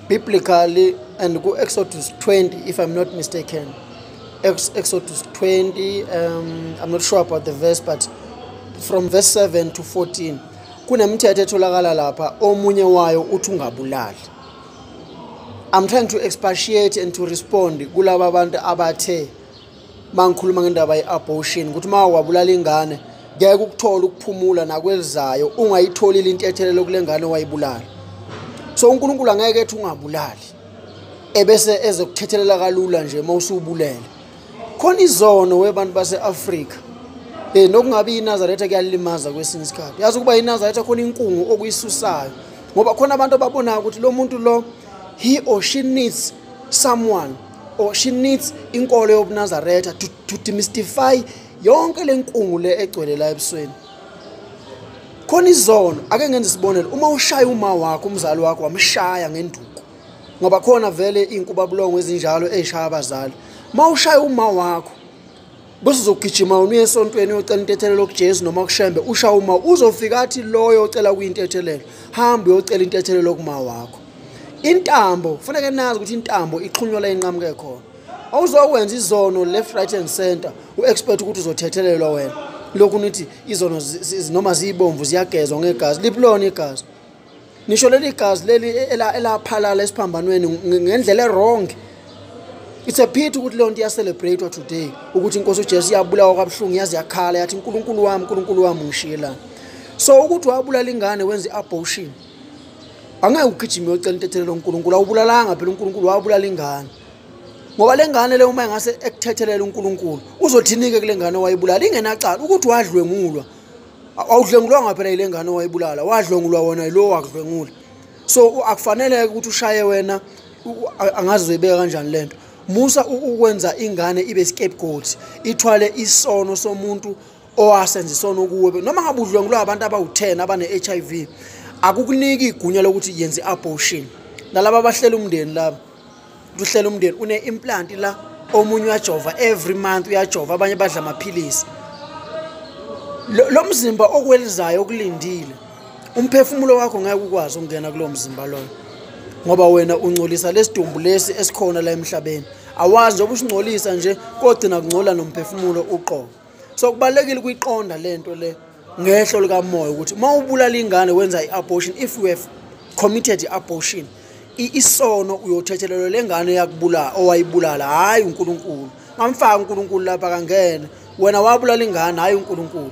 biblically and ku Exodus 20 if I'm not mistaken Ex Exodus 20 um, I'm not sure about the verse but from verse 7 to 14 kunemithetho etholakala lapha omunye wayo uthi ungabulali I'm trying to expatiate and to respond kulaba abantu abathe mangikhuluma ngendaba ye-abortion ukuthi uma wabulala ingane ngeke ukuthola ukuphumula nakwelizayo ungayitholile intethelelo kule ngane owayibulala so unkulunkulu angeke ethi ungabulali ebese ezokuthethelela kalula nje uma usubulele khona izono webantu base-afrika um nokungabi inazaretha kuyalimaza kwesinye isikhathi yazi ukuba inazaretha khona inkungu okuyisusayo ngoba khona abantu ababonayo ukuthi lo muntu lo he or she needs someone or she needs inkolo yobunazaretha to, to demystify yonke le nkungu le egcwele la ebusweni khona izono ake ngenze isibonelo uma ushaya uma wakho umzali wakho wamshaya ngenduku ngoba khona vele iy'nkubabulongo ezinjalo ey'shaya abazali uma ushaya uma wakho bese uzogijima wena uye esontweni uyocela intethelelo kujesu noma kushembe usha uma uzofika athi loyo ocela kuyintethelelo hambe uyocela intethelelo kuma wakho intambo kufaneke nazi ukuthi intambo ixhunywa la inqamuke khona awuzokwenza izono left right and center u-expect ukuthi uzothethelelwa wena lokhu nithi izono noma ziyibomvu ziyagezwa ngegazi liphi lona igazi ngisho leli gazi leli elaphalala esiphambanweni ngendlela erong it's a pity ukuthi leyo nto iyacelebrate-wa today ukuthi inkosi ujesu iyabulawa kwabuhlungu yaze yakhala yathi nkulunkulu wami nkulunkulu wami ngishiyelani so ukuthi wabulala ingane wenza i-abortion angeke ugijime yocela intethelelo unkulunkulu awubulalanga phela unkulunkulu wabulala ingane ngoba le ngane le uma engase ekuthethelela unkulunkulu uzothini-ke kule ngane owayibulala ingenacala ukuthi wadlwengulwa awudlwengulwanga phela yile ngane owayibulala wadlwengulwa wona yilowo wakudlwengula so akufanele-ke ukuthi ushaye wena angazi uzoyibeka kanjani le nto musa ukwenza ingane ibe scapegoat ithwale isono somuntu owasenza isono kuwe noma ngabe udlwengulwa abantu abawu-10 abane-h i v akukuniki igunya lokuthi yenze i-abortion nalaba abahlela umndeni laba luhlela umndeni une-implant la omunye uyajova every month uyajova abanye badla amaphilisi lo mzimba okwelizayo okulindile umphefumulo wakho ngeke ukwazi ukungena kulowo mzimba loyo ngoba wena ungcolisa lesidumbu lesi esikhona la emhlabeni awazi njengoba usingcolisa nje kogcina kungcola nomphefumulo uqobo so kubalulekile ukuyiqonda le nto le ngehlo likamoya ukuthi uma ubulala ingane wenza i-abortion if you have committed i-abortion isono uyothethelelwa le ngane yakubulala owayibulala hhayi unkulunkulu ngamfaka unkulunkulu lapha kangene wena wabulala ingane hhayi unkulunkulu